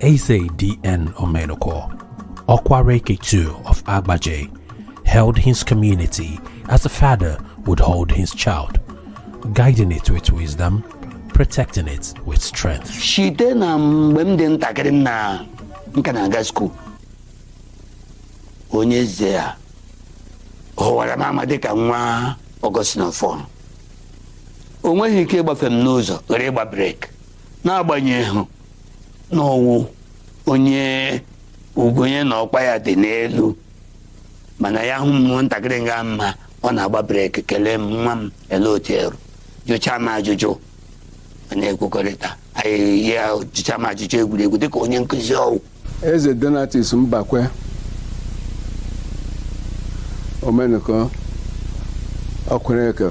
Eze D.N. Omenuko, Okwaraeke II of Abajah, held his community as a father would hold his child, guiding it with wisdom, protecting it with strength. Shite na mgbe m dị ntakịrị m na nka na-aga skuul onye eze a hụwara m ama dịka nwa Augustine fọn o nweghị ike ịgbafe m n'ụzọ ghara ịgba breki n'agbanyeghị na ọ wụ onye ukwu onye na ọkwa ya dị n'elu mana ya hụ m ntakịrị nga mma ọ na-agba breki kelee m nwa m ele otu eru jụchaa m ajụjụ anyị ekwukọrịta ya jụchaa m ajụjụ egwuregwu dịka onye nkụzi ọ wụ Eze Donatus Mbakwe Omenụkọ Okwaraeke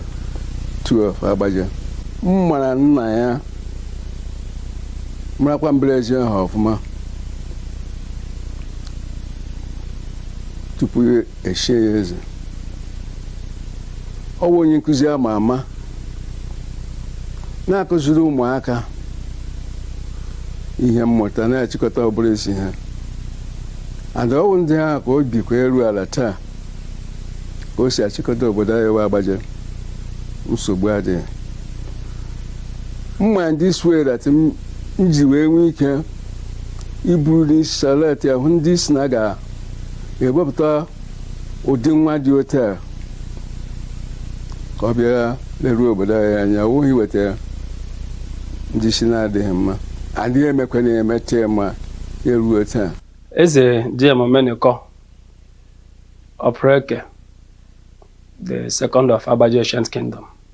II Abajah m mara nna ya marakwa mbara ezi ha ọfụma tupu e shie ya eze ọ bụ onye nkụzi ama ama na-akụziri ụmụaka ihe mmụta na-achịkọta ọ bụrụ isi ha and ọ wụ ndị ahụ ka o bikwa eru ala taa ka o si achịkọta obodo anyị wụ Abajah nsogbu adịghị mma ndị sweret m ji wee nwee ike iburu n'isi salute ahụ ndị si na ga ga-ewepụta ụdị nwa dị otu a ka ọ bịa leruo obodo anyị anya ọ wụghị iweta ndị isi na-adịghị mma adị emekwa na emecha ma eruo taa eze D.N. Omenuko Okwaraeke the second of Abajah ancient kingdom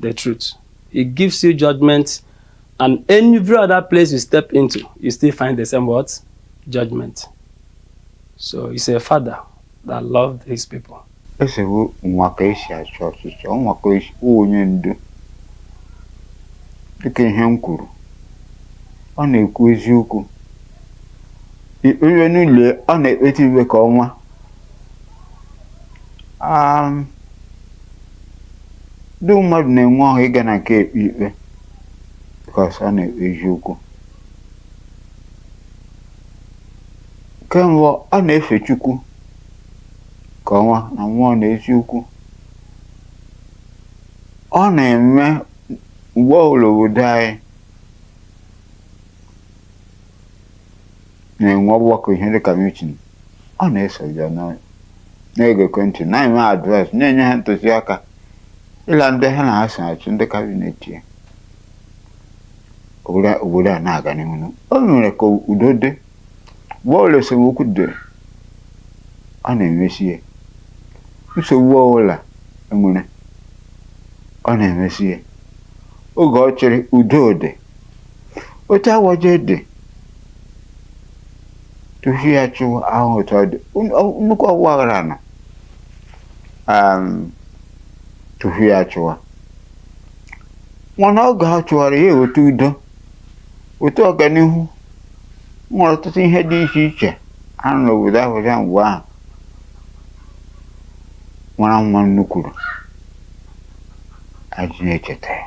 The truth. He gives you judgment and every other place you step into, you still find the same word, judgment. So he's a father that loved his people. Eze bụ nwa ka e si achọ ọchịchọ, nwoke wụ onye ndu. Dịka ihe m kwuru, ọ na-ekwu eziokwu. I kpewe n'ụlọ ọ na-ekpeta ikpe ka ọnwa. um, ndị mmadụ na-enwe ọṅụ ịga na nke ekpe ikpe because ọ na-ekpe eziokwu kemgbe ọ na-efe chukwu ka ọnwa na mmụọ na eziokwu ọ na-eme mgbe ọbụla obodo anyị na-enwe ọgbakọ ihe dịka mitin ọ na-eso ya na- na-egekọ ntị na-enye ha advice na-enye ha ntụziaka ịla ndị ha na ha so achị ndị kabinet ya obodo a- obodo a na-aga n'ihu o mere ka udo dị mgbe ọbụla esemokwu dị ọ na-emesi ya nsogbu ọbụla enwere ọ na-emesi ya oge ọ chịrị udo dị otu Agbaja dị tufu ya chịwa ahụ otu ọ dị Un- ọ- nnukwu ọgba aghara nọ um, tufu ya chịwa mana oge ha chịwara ya eweta udo weta ọganihu nwere ọtụtụ ihe dị iche iche a nọ n'obodo Agbaja mgbe ahụ mara mma nnukwuru e ji na-echeta ya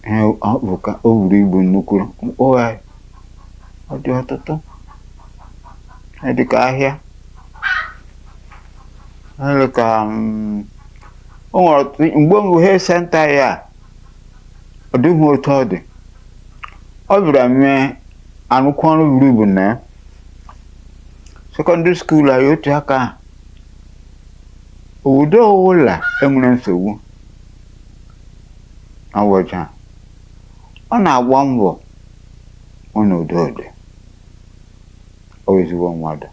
ha ọ bụ ka o buru ibu nnukwu mkpụgharị ọ dị ọtụtụ ọ dị ka ahịa ọ dị ka mm, o nwere ọtụtụ mgbe mbụ health center ya a, ọ dịghị otu ọ dị ọ bịara mee nnukwu ọrụ buru ibu na ya sekọndịrị skuul anyị otu aka ahụ obodo ọwụla enwere nsogbu Agbaja ọ na-agba mbọ hụ na udo dị ọ wụ ezigbo mmadụ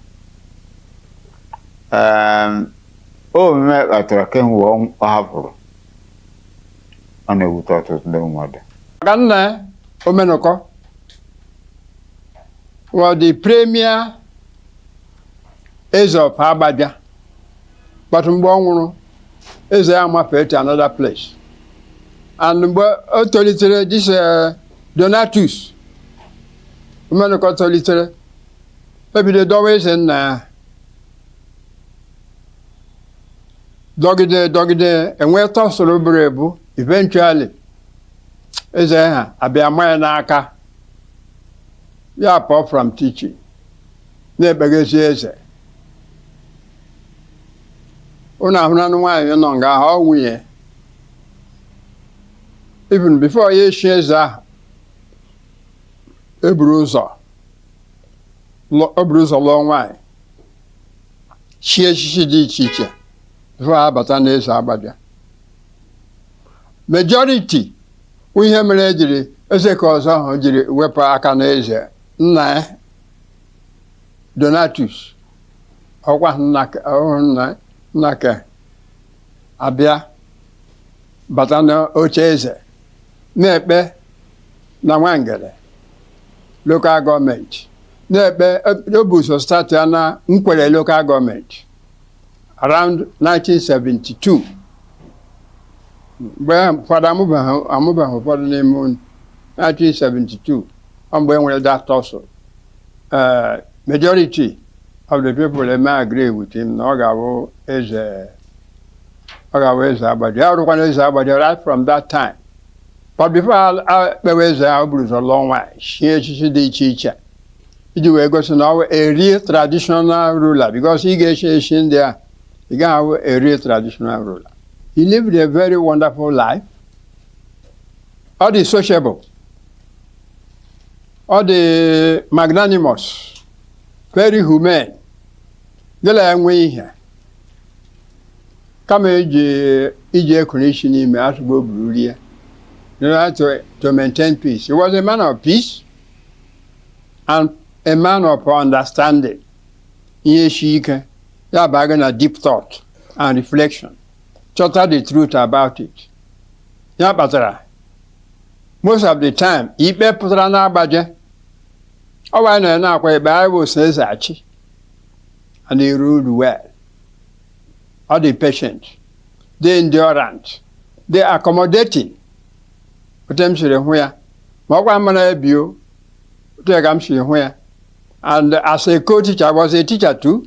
Em, omume kpatara kemgbe ọ ọ hapụrụ ọ na-ewute ọtụtụ ndị mmadụ maka nna omenụkọ was the premier eze of agbabia but mgbe ọ nwụrụ eze ya mafee to another place and mgbe o tolitere this eh, donatus omenụkọ tolitere ebido dọwa eze nna ya dọgide dọgide enwee tussle buru ebu eventually eze ha abịa ma ya n'aka ya pụọ from teaching na-ekpeghezi eze unu ahụranụ nwaanyị nọ nga ahụ ọ nwunye even before ya echi eze ahụ eburu ụzọ lụ- o buru ụzọ lụọ nwaanyị chie echichi dị iche iche before ha abata n'eze agbabịa majority ihe mere ejiri eze ka ọzọ ahụ jiri wepụ aka n'eze nna ya donatus ọkwa nnake abịa bata n'oche eze na-ekpe na nwangele lokal gọọmenti na-ekpe o buzo stati ya na nkwere lokal gọọmenti around 1972 mgbe ụfọdụ amụbeghị ụfọdụ n'ime unu 1972 ọ mgbe e nwere that tussle eh, majority of the people eme agree with him na ọ ga-abụ eze ọ ga-abụ eze Abajah ya rụkwana eze Abajah right from that time but before a- a kpewe eze ahụ buru ụzọ lụọ nwaanyị chie echichi dị iche iche iji wee gosi na ọ bụ a real traditional ruler because ị ga-echi echi ndị a ị gaghị abụ a real traditional ruler he lived a very wonderful life ọ dị sociable ọ dị magnanimous very humane gị na ya nwee ihe kama iji ekuru isi n'ime asụgo o buru rie in order to maintain peace he was a man of peace and a man of understanding ihe si ike ya baa gị na deep thought and reflection chọta the truth about it ya kpatara most of the time ikpe pụtara n'Abajah ọ bụ anyị nọ na-akwa ikpe anyị bụ so eze achị and he ruled well ọ dị patient dị endurant dị accommodating otu m siri hụ ya ma ọ gwa m na ebio otu ya ka m siri hụ ya and as a co-teacher I was a teacher too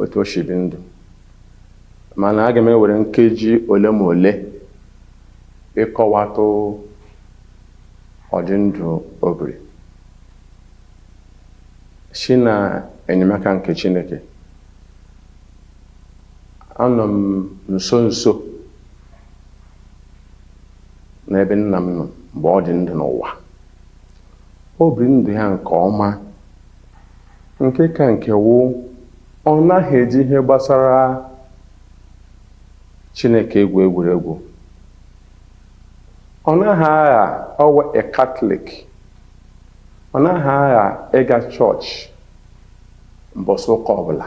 otu o si bi ndụ mana aga m ewere nkeji ole ma ole ịkọwatụ ụdị ndụ o biri si na enyemaka nke Chineke anọ m nso nso n'ebe nna m nọ mgbe ọ dị ndụ n'ụwa o biri ndụ ya nke ọma Nke ka nke wụ, ọ naghị eji ihe gbasara Chineke egwu egwuregwu. Ọ naghị agha ọ wụ a Katọlik. Ọ naghị agha ịga chọọchị mbọsị ụka ọbụla.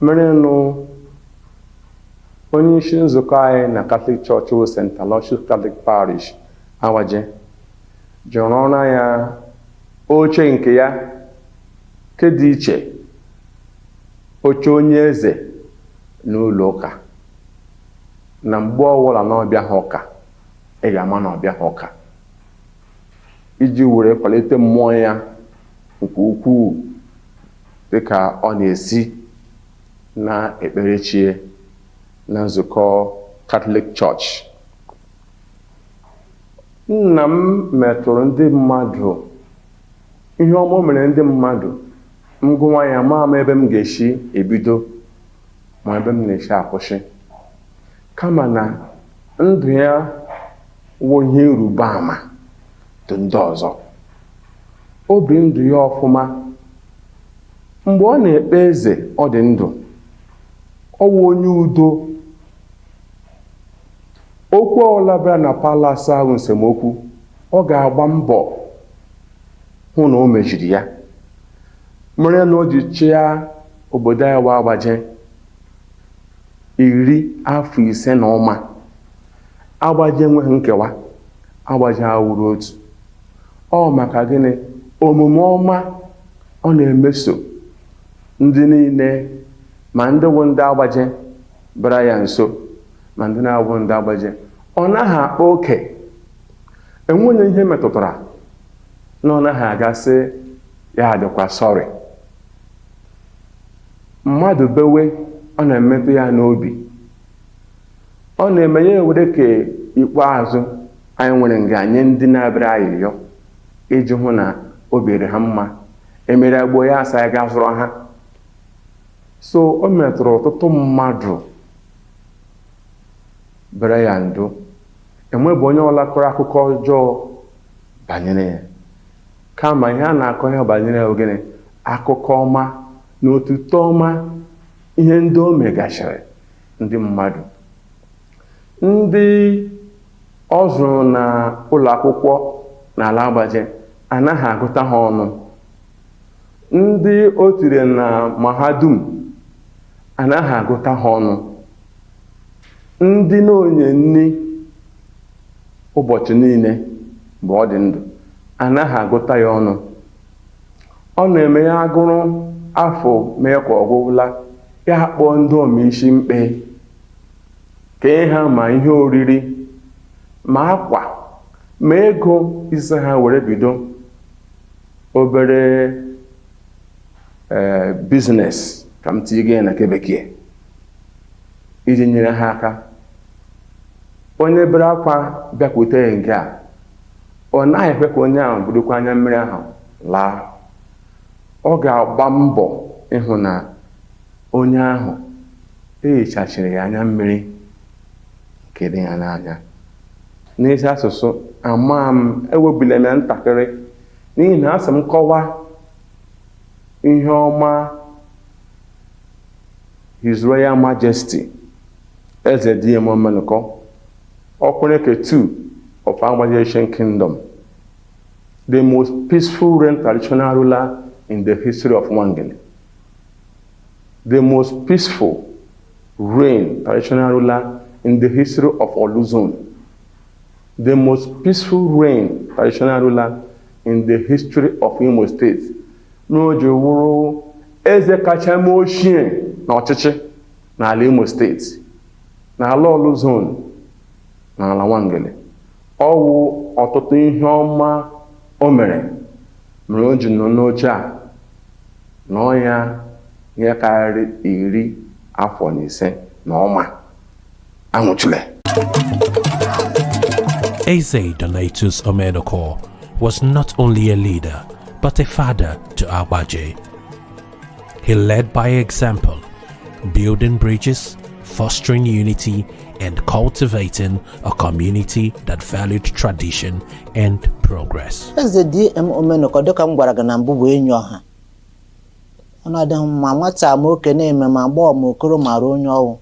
Merenụ onye isi nzukọ anyị na Katọlik chọọchị wụ St. Aloysius Katọlik Parish, Abajah, jụrụ ọrụ ya Oche nke ya nke dị iche oche onye eze n'ụlọ ụka na mgbe ọwụla na ọ bịaha ụka ị ga-ama na ọ bịaha ụka iji were kwalite mmụọ ya nke ukwuu dịka ọ na-esi na-ekpere chi ya na nzukọ Catholic Church Nna m metụrụ ndị mmadụ ihe ọma o mere ndị mmadụ m gụwa ya ma ama ebe m ga-esi ebido ma ebe m na-esi akwụsị kama na ndụ ya wụ ihe ịrịba ama dị ndị ọzọ o bi ndụ ya ọfụma mgbe ọ na-ekpe eze ọ dị ndụ ọ wụ onye udo Okwu ọbụla bịara na palas ahụ nsemokwu, ọ ga-agba mbọ hụ na o mejiri ya. Mere na o ji chịa obodo anyị wụ agbaje iri afọ ise na ụma. Agbaje enweghị nkewa, agbaje awụrụ otu. Ọ maka gịnị? Omume ọma ọ na-emeso ndị niile ma ndị wụ ndị agbaje bịara ya nso. ma ndị na-abụghị ndị agbaje ọ naghị akpa oke enweghị onye ihe metụtara na ọ naghị aga sị ya adịkwa sorry mmadụ bewe ọ na-emetụ ya n'obi ọ na-eme ya ewere ke ikpeazụ anyị nwere nga nye ndị na-abịara ayịyọ iji hụ na o biri ha mma e mere agbo ya asa ya ga zụrụ ha so o metụrụ ọtụtụ mmadụ bere ya ndụ enwebeghị onye ọwụla kọrọ akụkọ ọjọọ banyere ya kama ihe a na-akọ ya banyere ya ọ gịnị akụkọ ọma na otuto ọma ihe ndị o megasịrị ndị mmadụ ndị ọ zụrụ na ụlọ akwụkwọ n'ala agbaje anaghị agụta ha ọnụ Ndị o tiri na mahadum anaghị agụta ha ọnụ. Ndị ọ na-enye nri ụbọchị niile mgbe ọ dị ndụ anaghị agụta ya ọnụ. Ọ na-eme ya agụrụ afọ mee ka ọ gwụla, ya akpọọ ndị ụmụ isi mkpe, kee ha ma ihe oriri ma akwa ma ego sị ha were bido obere ee biznes ka m tinye gị na nke bekee iji nyere ha aka onye bere akwa bịakwute ya nke a ọ naghị ekwe ka onye ahụ burukwa anya mmiri ahụ laa ọ ga-agba mbọ ịhụ na onye ahụ ehichachiri ya anya mmiri nke dị ya n'anya. N'ezi asụsụ, ama m, ewebila m ya ntakịrị, n'ihi na a sị m kọwa ihe ọma His Royal Majesty Eze DM Omenụkọ, Okwaraeke II of Abajah Ancient Kingdom, the most peaceful reign traditional ruler in the history of Nwangele, the most peaceful Reign, traditional ruler in the history of Orlu zone. The most peaceful reign, traditional ruler in the history of Imo State. Mere o ji wụrụ eze kacha mee ochie n'ọchịchị n'ala Imo State n'ala Orlu zone n'ala Nwangele. Ọ wụ ọtụtụ ihe ọma o mere mere o ji nọ n'oche a nọọ ya ihe karịrị iri afọ na ise na ọma anwụchule Eze Donatus Omenụkọ was not only a leader but a father to Abajah. He led by example, building bridges, fostering unity, and cultivating a community that valued tradition and progress. Eze DM Omenụkọ dịka m gwara gị na mbụ bụ enyi ọha ọ nọdịghị ma nwata ma okenye ma agbọọ ma okoro mara onye ọ wụ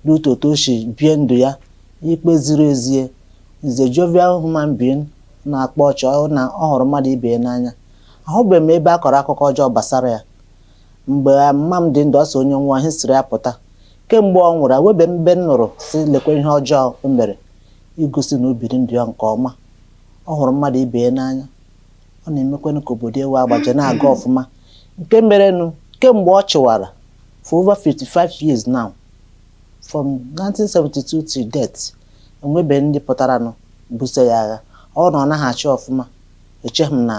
due to otu o si bie ndụ ya ikpe ziri ezi he's a jovial human being na-akpa ọchị ọ na ọ hụrụ mmadụ ibe ya n'anya Ahụbeghị m ebe a kọrọ akụkọ ọjọọ gbasara ya. Mgbe mma m dị ndụ, ọ sị onye nwụọ, history ya apụta. Kemgbe ọ nwụrụ, ahụbeghị m ebe m nụrụ sị lekwa ihe ọjọọ o mere igosi na o biri ndụ ya nke ọma. Ọ hụrụ mmadụ ibe ya n'anya. Ọ na-emekwanụ ka obodo ya wụ Abajah na-aga ọfụma. Nke merenụ, kemgbe ọ chịwara, for over 55 years now, from 1972 till date, enwebeghị ndị pụtaranụ buso ya agha. Ọ bụrụ na ọ naghị achị ọfụma, Echeghị m na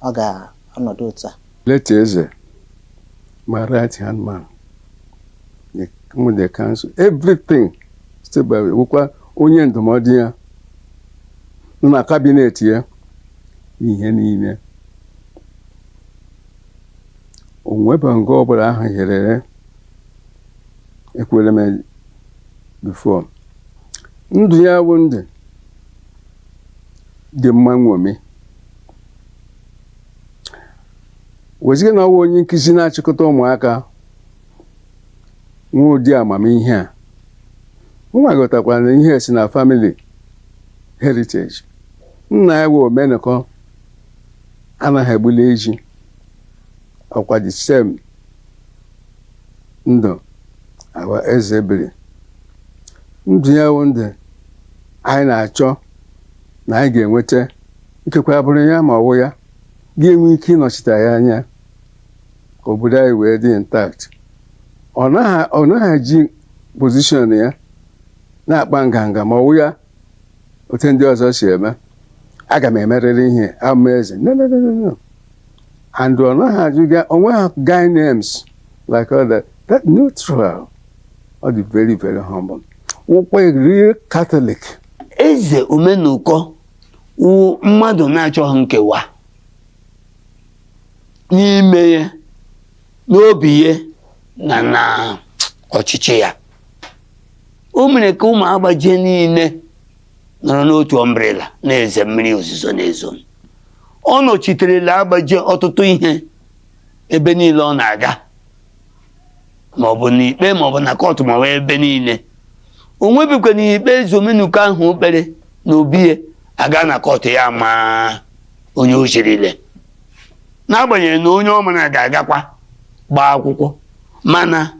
ọ ga-anọdụ otu a. Late Eze, my right hand man, the, with the council, everything step by wụkwa onye ndụmọdụ ya nọ na cabinet ya n'ihe niile. O nwebeghị nga ọbụla ahụ hirere ekwuola m before ndụ ya wụ ndụ dị mma nṅomi wezuga na ọ wụ onye nkụzi na-achịkọta ụmụaka nwee ụdị amamihe a nwa ghọtakwara na ihe si na family heritage nna ya wụ omenụkọ anaghị egbuli eji ọkwa the same ndụ ahụ eze biri ndụ ya wụ ndụ anyị na-achọ na anyị ga-enweta ikekwe agbụrụ ya ma ọ wụ ya ga-enwe ike ịnọchite ya anya ka obodo anyị wee dị intact ọ naghị ọ naghị eji position ya na-akpa nganga ma ọ wụ ya otu ndị ọzọ si eme aga m emerịrị ihe ama eze no no no no no and ọ naghị ajụga onwe ha guy names like all that that neutral ọ dị very very humble wụkwa real Catholic eze omenụkọ wụ mmadụ na-achọghị nkewa n'ime ya n'obi ya na na ọchịchị ya o mere ka ụmụ agbaje niile nọrọ n'otu umbrella na-eze mmiri ozuzo na-ezo ọ nọchiterela agbaje ọtụtụ ihe ebe niile ọ na-aga maọbụ n'ikpe maọbụ na kọtụ maọbụ ebe niile o nwebikwa na ikpe eze omenụkọ ahụ o kpere n'obi ya aga na kọtụ ya amaa onye o zirile n'agbanyeghị na onye ọ mara ga-agakwa gbaa akwụkwọ mana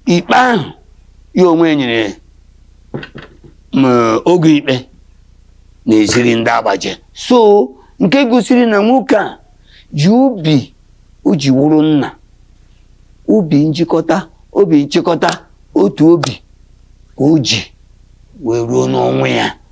ikpe ahụ ya onwe nyere oge ikpe na-eziri ndị agbaje so nke gosiri na nwoke a ji obi o ji wụrụ nna obi njikọta obi nchịkọta otu obi ka o ji wee ruo n'ọnwụ ya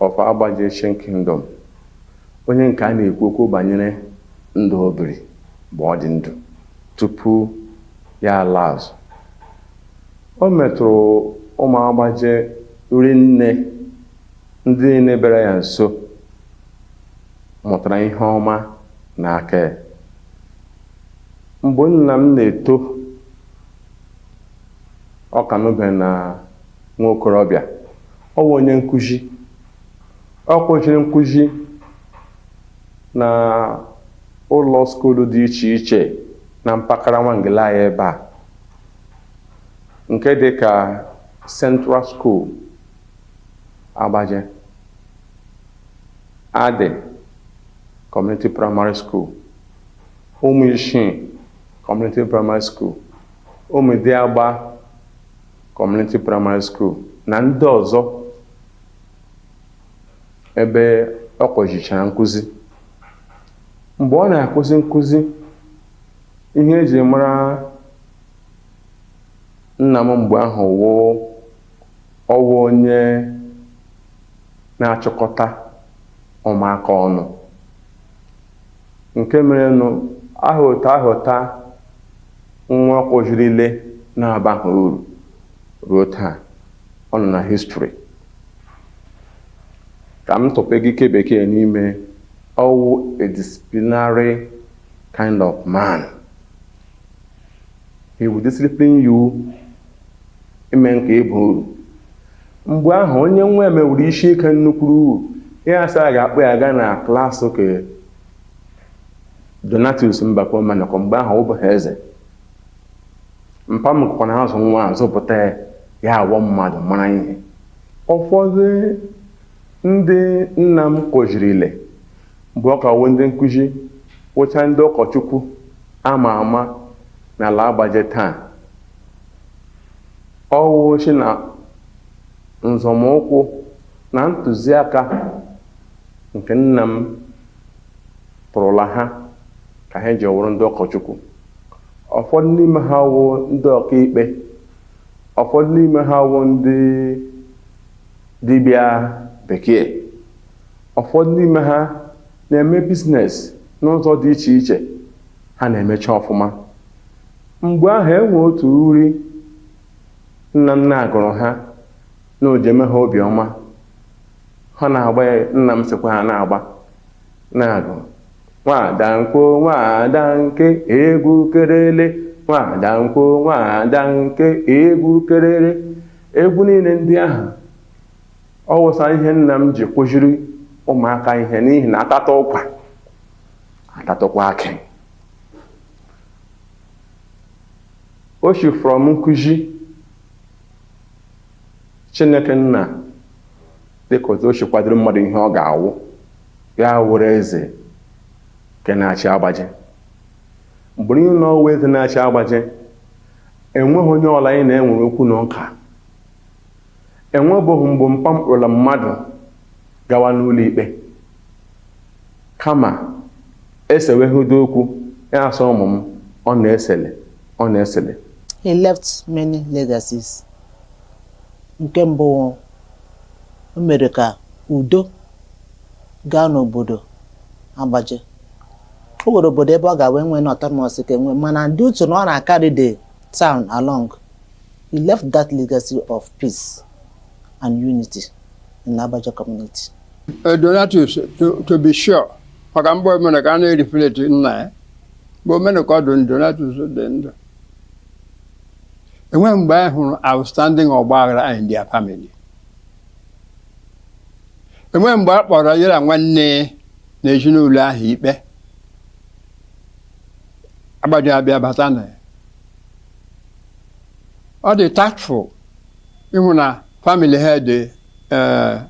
of Agbaje Ancient Kingdom, onye nke a na-ekwu okwu banyere ndụ o biri mgbe ọ dị ndụ tupu ya alaa azụ. O metụrụ ụmụ Agbaje rinne, ndị niile bịara ya nso mụtara ihe ọma n'aka ya. Mgbe nna m na-eto, ọ ka nọbe na nwa okorobịa Ọ wụ onye nkụzi. Ọ kụziri nkụzi na ụlọ skuulu dị iche iche na mpaghara Nwangele anyị ebe a nke dị ka Central School Agbaje, Adị Community Primary School, Ụmụishi Community Primary School, Ụmụdiagba Community Primary School na ndị ọzọ ebe ọ kụzichara nkụzi. Mgbe ọ na-akụzi nkụzi, ihe e ji mara nna m mgbe ahụ wụ ọ wụ onye na-achịkọta ụmụaka ọnụ. Nke merenụ ahụta ahụta nwa ọ kụzirile na-abaghị uru ruo taa. Ọ nọ na history. Ka m tụpe gị ke bekee n'ime, ọ wụ a disciplinary kind of man. He will discipline you ime ka ị baa uru. Mgbe ahụ onye nwa ya mewuru isi ike nnukwuru uru ya asị a ga-akpọ ya gaa na klas ke Donatus Mbakwe Omenụkọ mgbe ahụ ọ wụbeghị eze. Mpa m kụkwa na azụ nwa a zụpụta ya ya awụ mmadụ mara ihe. Ụfọdụ ndị nna m kụzirile Mgbe ọ ka wụ ndị nkụzi wụcha ndị ụkọchukwu a ma ama n'ala Agbaje taa, ọ wụ si na nzọmụkwụ na ntụziaka nke nna m tụrụla ha ka ha ji wụrụ ndị ụkọchukwu. Ụfọdụ n'ime ha wụ ndị ọkaikpe, ụfọdụ n'ime ha wụ ndị dibịa bekee. Ụfọdụ n'ime ha na-eme biznes n'ụzọ dị iche iche, ha na-emecha ọfụma. Mgbe ahụ e nwee otu uri nna m na-agụrụ ha na o ji eme ha obi ọma, ha na-agba ya, nna m sịkwa ha na-agba, na-agụ nwaada nkwo nwaada nke egwu kerele, nwaada nkwo nwaada nke egwu kerere. Egwu niile ndị ahụ Ọ wụsa ihe nna m ji kụziri ụmụaka ihe n'ihi na atata ụkwa atatakwa akị o si from nkụzi Chineke nna dịka otu o si kwadoro mmadụ ihe ọ ga-awụ ya wụrụ eze nke na-achị Agbaje mgbe niile na ọ wụ eze na-achị Agbaje enweghị onye ụlọ anyị na-enwere okwu na ụka Enwebụghị mgbe mpa m kpụrụla mmadụ gawa n'ụlọikpe. Kama, e sewegodi okwu, ya asị ụmụ m, unu esele, unu esele. He left many legacies. Nke mbụ wụ, o mere ka udo gaa n'obodo Agbaja. O nwere obodo ebe ọ ga wee nwee na autonomous ka enwe mana due to na ọ na-carry the town along, He left that legacy of peace and unity in Abaja community. Uh, Donatus, to, to be sure, maka mgbe Omenuko a na-reflect nna ya mgbe Omenuko dị ndụ Donatus dị ndụ enweghị mgbe anyị hụrụ outstanding ọgba aghara in their family enweghị mgbe a kpọrọ ya na nwanne na ezinụlọ ahụ ikpe Agbaja abịa bata na ya ọ dị tactful ịhụ na family ha dị eh,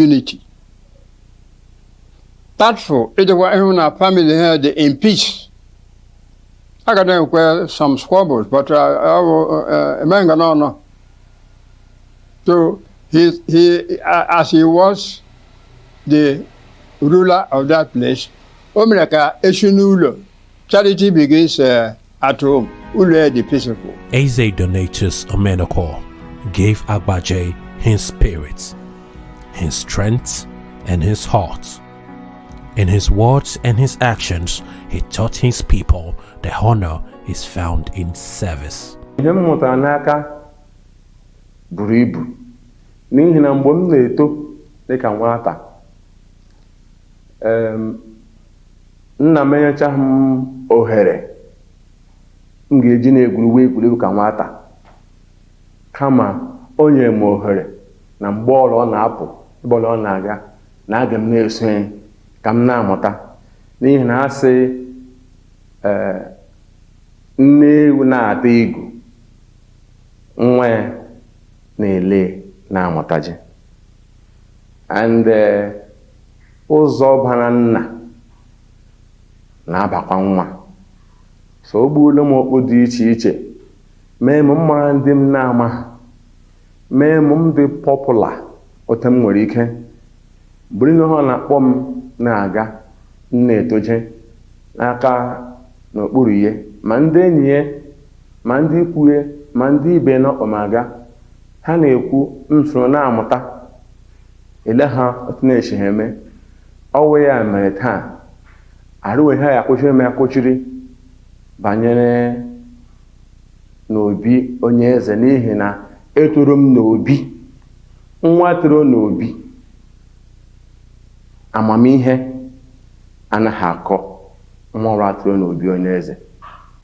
unity tactful ịdịkwa ịhụ na family ha dị in peace a ga na-enwekwa some squabbles but eh, ọ bụ eh, emeghị nga n'ọnụ so he, he, a- as he was the ruler of that place o mere ka esi n'ụlọ charity begins eh, At home, ụlọ ya dị peaceful. Eze Donatus Omenuko gave Agbaja his spirit, his strength, and his heart. In his words and his actions, he taught his people that honor is found in service. ihe m mụtara n'aka buru ibu n'ihi na mgbe m na-eto dịka nwata em, Nna m enyechaghị m ohere m ga-eji na-egwuriwe egwuregwu ka nwata, kama o nyere m ohere na mgbe ọla ọ na-apụ ebe ọla ọ na-aga na aga m na-eso ya ka m na-amụta n'ihi na a sị ee nne ewu na-ata igu nwa ya na-ele na-amụtaje And ụzọ bara nna na-abakwa nwa. So o gbuola m okpu dị iche iche, mee m mara ndị m na-amaghị, mee m m dị popular otu m nwere ike, bụrụ ihe ọ na-akpọ m na-aga, m na-etoje n'aka n'okpuru ya, ma ndị enyi ya, ma ndị ikwu ya, ma ndị ibe ya na-akpọ m aga. Ha na-ekwu m soro na-amụta ele ha otu na-esi ha eme ọ wụ ya mere taa arụwe ihe akwụchiri m akwụchiri banyere n'obi onye eze n'ihi na etoro m n'obi nwa toro n'obi amamihe anaghị akọ nwa ọbụla toro n'obi onye eze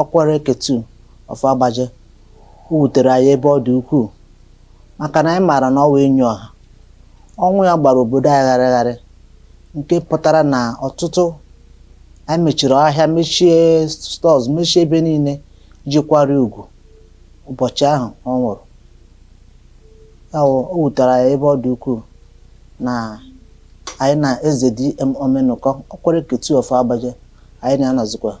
Ọkwaraeke two of Agbaje, O wutere anyị ebe ọ dị ukwuu maka na anyị maara na ọ wụ enyi ọha. Ọnwụ ya gbara obodo anyị gharịgharị nke pụtara na ọtụtụ anyị mechiri ahịa, mechie stores, mechie ebe niile iji kwara ugwu ụbọchị ahụ ọ nwụrụ. Ya wụ o wutere anyị ebe ọ dị ukwuu na anyị na Eze DM Omenụkọ, Ọkwaraeke two of Agbaje, anyị na ya anọzikwaghị.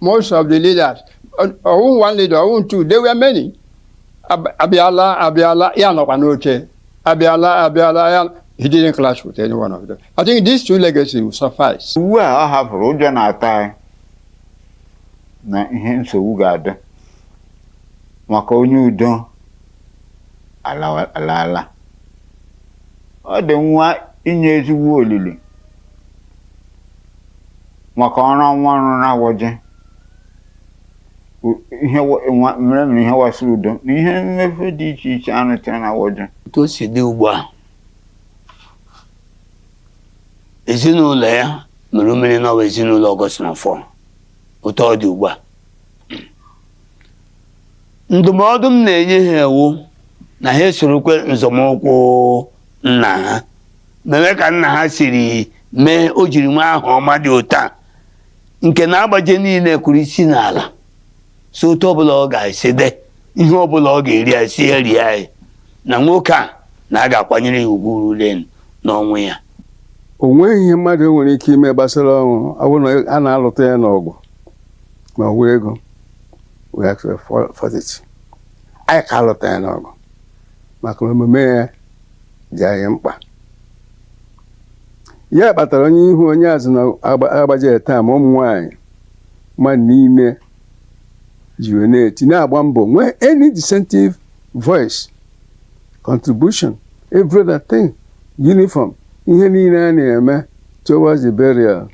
Most of the leaders, ọ wụ one leader, ọ wụ two, they were many. Ab- Abịala, abịala, ya nọkwa n'oche. Abịala, abịala, ya. He didn't clash with any one of them. I think these two legacies will suffice. Ugbu a ọ hapụrụ ụjọ na-atụ anyị na ihe nsogbu ga-adị maka onye udo alawa- alaala. Ọ dị mma inye ezigbo olili maka ọrụ ọma ọ rụrụ n'Agbaje ihe mere mere ihe gbasara udo na ihe mmepe dị iche iche a rụtara n'Agbaje otu o si dị ugbu a ezinụlọ ya mere mmiri n'ọwa ezinụlọ ọgọst na fọ otu ọ dị ugbu a ndụmọdụ m na-enye ha wụ na ha sorokwe nzọmụkwụ nna ha mee ka nna ha siri mee o jiri nwee aha ọma dị otu a nke na agbaje niile kụrụ isi n'ala sị otu ọbụla ọ ga-esi dị ihe ọbụla ọ ga-eri a sị ya rie anyị na nwoke a na a ga-akwanyere ya ugwu ruru ya n'ọnwụ ya o nweghị ihe mmadụ nwere ike ime gbasara ọnwụ ọ bụrụ na a na-alụta ya n'ọgụ ma ọ bụ ego we fought it anyị ka alụta ya n'ọgụ maka na omume ya dị anyị mkpa ya kpatara onye ihu onye azụ na agba- agbaje taa ma ụmụ nwaanyị mmadụ niile ji wee na-eti na-agba mbọ nwee any dissentive voice contribution every other thing uniform ihe niile a na-eme towards the burial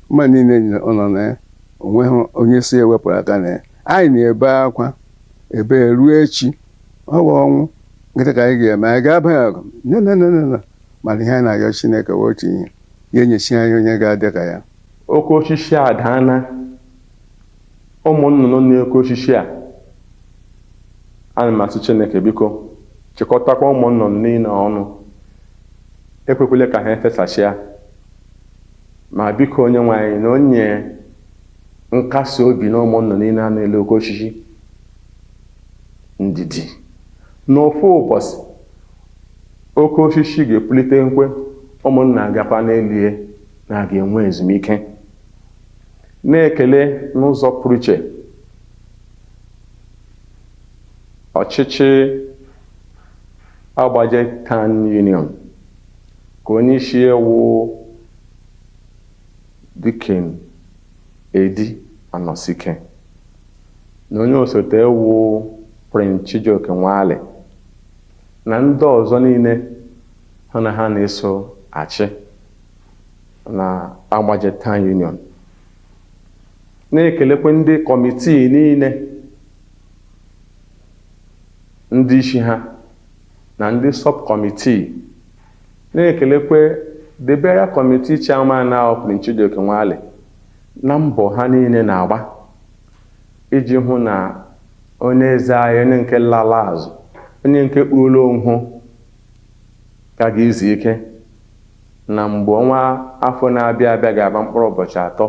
mmadụ niile nọ na ya o nweghị onye sị ya wepụrụ aka na ya anyị na-ebe akwa ebe ruo echi ọ bụ ọnwụ gịnị ka anyị ga-eme anyị ga-aba ya ọgụ na no no no no mana ihe anyị na-ayọ chineke wụ otu ihe ya enyechi anyị onye ga-adị ka ya oke osisi a daana ụmụ nnụnụ n'oke osisi a ana m asị chineke biko chịkọtakwa ụmụ nnụnụ niile ọnụ ekwekwele ka ha efesasịa ma biko onye nwe anyị na onye nkasi obi nye ụmụ nnụnụ niile a n'elu oke osisi ndidi na ofu ụbọchị oke osisi ga-epulitekwe ụmụ nnụnụ agakwa n'elu ya na-aga enwe ezumike na-ekele n'ụzọ pụrụ iche ọchịchị agbaje Town Union ke onye isi ya wụ Deacon Eddy Anosike na onye osote ya wụ Prince Chijioke Nwali na ndị ọzọ niile ha na ha na-eso achị na Agbaje Town Union. Na-ekelekwe ndị kọmitii niile, ndị isi ha, na ndị sọbkọmitii, na-ekelekwa The Burial Committee Chairman ahụ Prince Chijioke Nwali na mbọ ha niile na-agba iji hụ na onye eze anyị, onye nke lala azụ, onye nke kpuola onwe ya ga izu ike na mgbe ọnwa afọ na-abịa abịa ga-agba mkpụrụ ụbọchị atọ,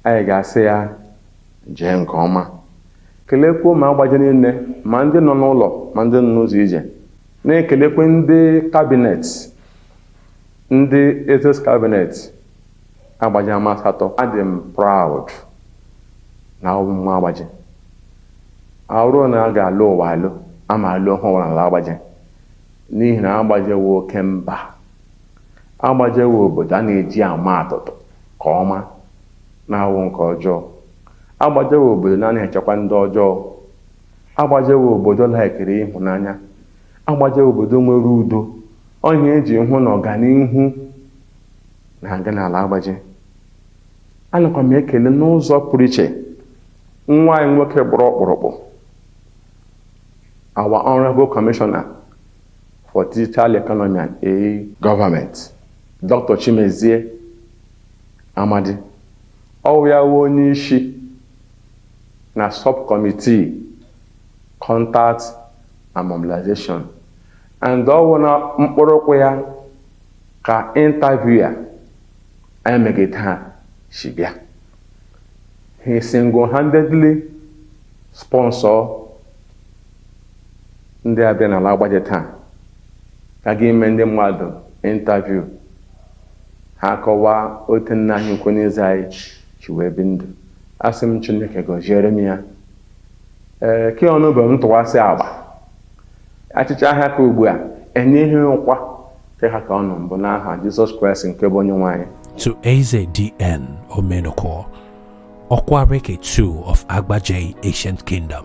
anyị ga-asị ya jee nke ọma. Keleekwa ụmụ agbaje niile, ma ndị nọ n'ụlọ ma ndị nọ n'ụzọ ije. Na-ekelekwa ndị kabinet, ndị Eze's Cabinet agbaje ama asatọ. Adị m proud na awụ m nwa agbaje. Ọ wụrụ na a ga-alọ ụwa alọ, a ma alọ ụwa n'ala agbaje n'ihi na agbaje wụ oke mba. Agbaje wụ obodo a na-eji ama atụtụ ke ọma. na-awụghị nke ọjọọ. Agbaje wụ obodo na-anaghị echekwa ndị ọjọọ. Agbaje wụ obodo laikiri ịhụnanya. Agbaje wụ obodo nwere udo. Ọ ihe e ji hụ na ọganihu na-aga n'ala agbaje. Anakwa m ekele n'ụzọ pụrụ iche nwa anyị nwoke gbụrụ ọkpụrụkpụ, our Honorable Commissioner for Digital Economy and E-Government, Dr. Chimezie Amadi. Ọ wụ ya wụ onye isi na subcommittee contact and mobilization and ọ wụ na mkpụrụ ụkwụ ya ka interview a anyị megide ha si bịa. He single-handedly sponsor ndị a bịa n'ala Agbaja taa ka ga-eme ndị mmadụ interview ha kọwaa otu nna anyị ukwu n'eze anyị si wee bi ndụ asị m chineke gọziere m ya ee ke ọnụ bụ m tụwasị agba achịcha ahịa ka ugbu a enyeghị ụkwa ke ha ka ọ nọ mbụ n'aha jizọs kraịst nke bụ onye nwe anyị to Eze D.N. Omenuko, Okwaraeke 2 of Agbaja Ancient Kingdom.